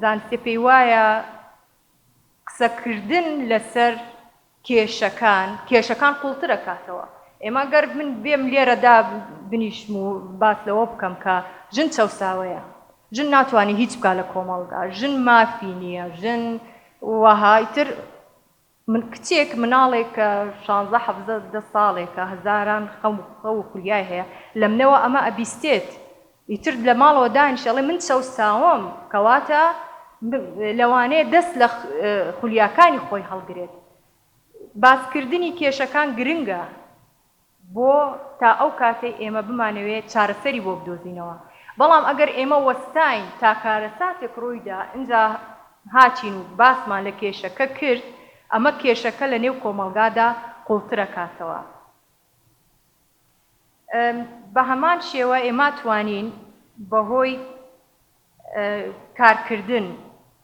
زانستیە پێی وایە قسەکردن لەسەر کێشەکان، کێشەکان قوڵترەکاتەوە. ئێمە گەر من بێم لێرەدا بنیشم و باس لەوە بکەم کە ژن چەوساوەیە، ژن ناتوانێ هیچ بکا لە کۆمەڵگا، ژن مافی نییە، ژن وەها، ئیتر من کچێک، مناڵێک کە شانزە، حەڤزە، دە ساڵێکە، هەزاران خەم و خولیای هەیە، لەمنەوە ئەمە ئەبیستێت ئیتر لە ماڵەوە دانیشت ئەڵێ من چەوساوم کەواتە لەوانەیە دەست لە خولیاکانی خۆی هەڵگرێت باسکردنی کێشەکان گرنگە بۆ تا ئەو کاتەی ئێمە بمانەوێت چارەسەری بۆ بدۆزینەوە بەڵام ئەگەر ئێمە وەستاین تا کارەساتێک ڕوویدا ئینجا هاتین و باسمان لە کێشەکە کرد ئەمە کێشەکە لە نێو کۆمەڵگادا قوڵترەکاتەوە. بە هەمان شێوە ئێما توانین بە هۆی کارکردن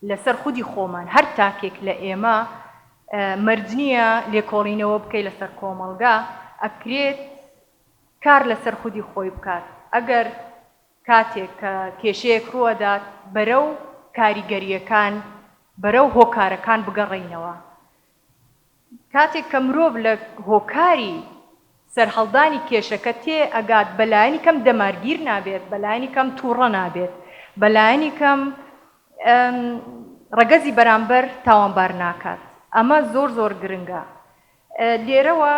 لەسەر خودی خۆمان هەر تاکێک لە ئێمە مەرج نییە لێکۆڵینەوە بکەی لەسەر کۆمەڵگا ئەکرێت کار لەسەر خودی خۆی بکات ئەگەر کاتێک کە کێشەیەک ڕووەدات بەرە و کاریگەریەکان بەرە و هۆکارەکان بگەڕینەوە کاتێک کە مرۆڤ لە هۆکاری سەرهەڵدانی کێشەکە تێ ئەگات بە لایەنی کەم دەمارگیر نابێت، بە لایەنی کەم تووڕە نابێت، بە لایەنی کەم ڕەگەزی بەرامبەر تاوانبار ناکات. ئەمە زۆر زۆر گرنگە لێرەوە.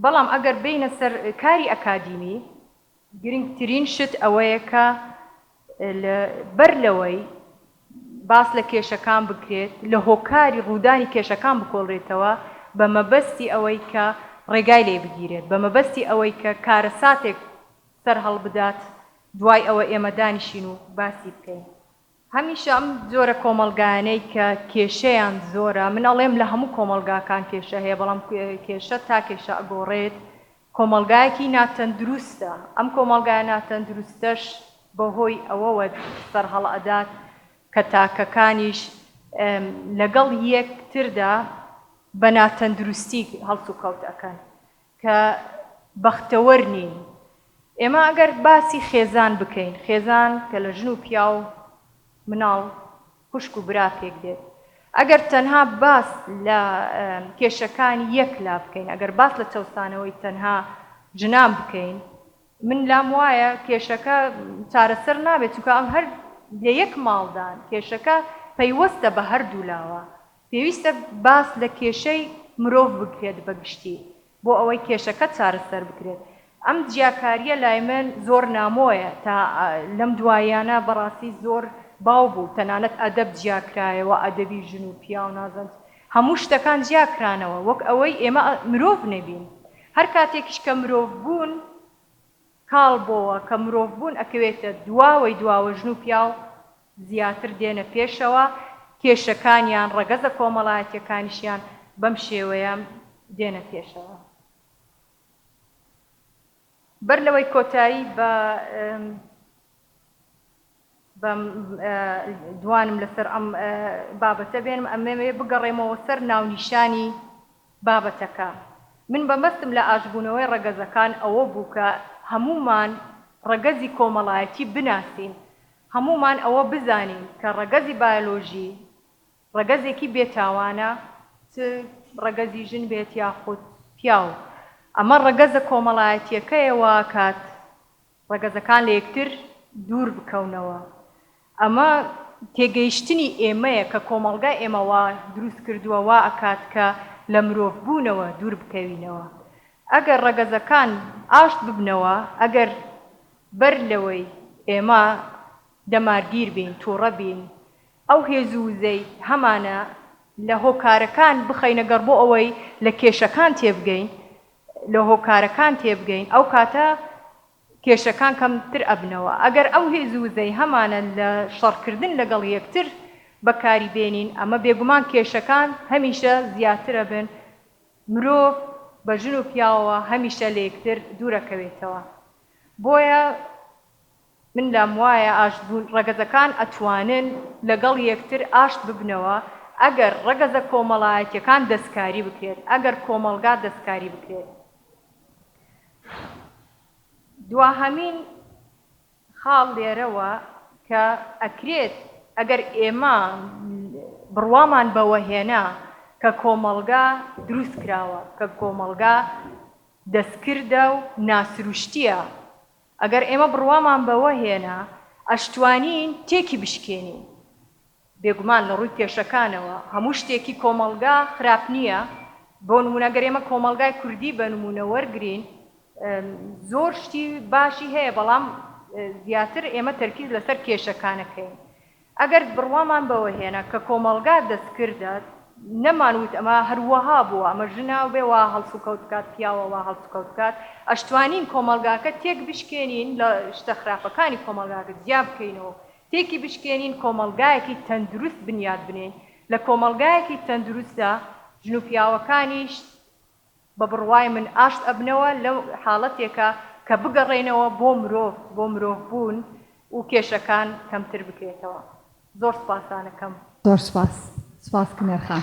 بەڵام ئەگەر بێینە سەر کاری ئەکادیمی، گرنگترین شت ئەوەیە کە بەر لەوەی باس لە کێشەکان بکرێت، لە هۆکاری ڕوودانی کێشەکان بکۆڵرێتەوە بە مەبەستی ئەوەی کە ڕێگای لێ بگیرێت، بە مەبەستی ئەوەی کە کارەساتێک سەرهەڵبدات، دوای ئەوە ئێمە دانیشین و باسی بکەین. هەمیشە ئەم جۆرە کۆمەڵگایانەی کە کێشەیان زۆرە، من ئەڵێم لە هەموو کۆمەڵگاکان کێشە هەیە، بەڵام کێشە تا کێشە ئەگۆڕێت، کۆمەڵگایەکی ناتەندروستە، ئەم کۆمەڵگایە ناتەندروستەش بەهۆی ئەوەوە سەرهەڵئەدات کە تاکەکانیش لەگەڵ یەکتردا بە ناتەندروستی هەڵسوکەوت ئەکەن. کە بەختەوەر نین. ئێمە ئەگەر باسی خێزان بکەین، خێزان کە لە ژن و پیاو و مناڵ خوشک و برا پێک دێت، ئەگەر تەنها باس لە کێشەکانی یەک لا بکەین، ئەگەر باس لە چەوسانەوەی تەنها ژنان بکەین، من لام وایە کێشەکە چارەسەر نابێت، چونکە ئەم هەر لە یەک ماڵدان، کێشەکە پەیوەستە بە هەردوو لاوە، پێویستە باس لە کێشەی مرۆڤ بکرێت بە گشتی بۆ ئەوەی کێشەکە چارەسەر بکرێت. ئەم جیاکارییە لای من زۆر نامۆیە تا لەم دواییانە بەڕاستی زۆر باو بوو، تەنانەت ئەدەب جیا کرایەوە، ئەدەبی ژن و پیاو نازەند هەموو شتەکان جیا کرانەوە وەک ئەوەی ئێمە مرۆڤ نەبین. هەر کاتێکیش کە مرۆڤ بوون. کاڵ بۆوە کە مرۆڤ بوون ئەکەوێتە دواوەی دواوە ژن و پیاو زیاتر دێنە پێشەوە کێشەکانیان ڕەگەزە کۆمەڵایەتیەکانیشیان بەم شێوەیە دێنە پێشەوە بەر لەوەی کۆتایی بە. بم دوانم لەسەر ئەم بابەتە بێنم ئەمەوێ بگەڕێمەوە سەر ناونیشانی بابەتەکە من بەمەستم لە ئاشبوونەوەی ڕەگەزەکان ئەوە بوو کە هەموومان ڕەگەزی کۆمەڵایەتی بناسین هەموومان ئەوە بزانین کە ڕەگەزی بایۆلۆژی ڕەگەزێکی بێ تاوانە چ ڕەگەزی ژن بێت یاخود پیاو ئەمە ڕەگەزە کۆمەڵایەتیەکەیە واکات ڕەگەزەکان لە یەکتر دوور بکەونەوە. ئەمە تێگەیشتنی ئێمەیە کە کۆمەڵگای ئێمە وا دروست کردووە وا ئەکات کە لە مرۆڤ بوونەوە دوور بکەوینەوە. ئەگەر ڕەگەزەکان ئاشت ببنەوە، ئەگەر بەر لەوەی ئێمە دەمارگیر بین، تووڕە بین، ئەو هێزو وزەی هەمانە لە هۆکارەکان بخەینە گەڕ بۆ ئەوەی لە کێشەکان تێبگەین لە هۆکارەکان تێبگەین ئەو کاتە کێشەکان کەم تر ئەبنەوە ئەگەر ئەو هێزو وزەی هەمانە لە شەڕ کردن لەگەڵ یەکتر بەکاری بێنین ئەمە بێگومان کێشەکان هەمیشە زیاتر ئەبن مرۆڤ بە ژن و پیاوەوە هەمیشە لە یەکتر دوور ئەکەوێتەوە بۆیە من لام وایە ئاشت بوون ڕەگەزەکان ئەتوانن لەگەڵ یەکتر ئاشت ببنەوە ئەگەر ڕەگەزە کۆمەڵایەتیەکان دەستکاری بکرێت ئەگەر کۆمەڵگا دەستکاری بکرێت دواهەمین خاڵ لێرەوە کە ئەکرێت ئەگەر ئێمە بڕوامان بەوە هێنا کە کۆمەڵگا دروست کراوە کە کۆمەڵگا دەستکردە و ناسروشتیە ئەگەر ئێمە بڕوامان بەوە هێنا ئەشتوانین تێکی بشکێنین، بێگومان لە ڕووی کێشەکانەوە هەموو شتێکی کۆمەڵگا خراپ نییە، بۆ نموونە گەر ئێمە کۆمەڵگای کوردی بە نموونە وەرگرین زۆر شتی باشی هەیە، بەڵام زیاتر ئێمە تەرکیز لەسەر کێشەکانەکەین، ئەگەر بڕوامان بەوە هێنا کە کۆمەڵگا دەستکردە، نەمانوت ئەمە هەروەها بووە، ئەمە ژنە بێ وا هەڵسوکەوت بکات، پیاوە وا هەڵسوکەوت بکات، ئەشتوانین کۆمەڵگاکە تێکبشکێنین، لە شتە خراپەکانی کۆمەڵگاکە جیابکەینەوە و تێکی بشکێنین، کۆمەڵگایەکی تەندروست بنیات بنێین، لە کۆمەڵگایەکی تەندروستدا ژن و پیاوەکانیش بە بڕوای من ئاشت ئەبنەوە لە حاڵەتێکا کە بگەڕێنەوە بۆ مرۆڤ بۆ مرۆڤ بوون و کێشەکان کەمتر بکرێتەوە. زۆر سوپاسانەکەم. زۆر سوپاس سوپاس کنێر خان.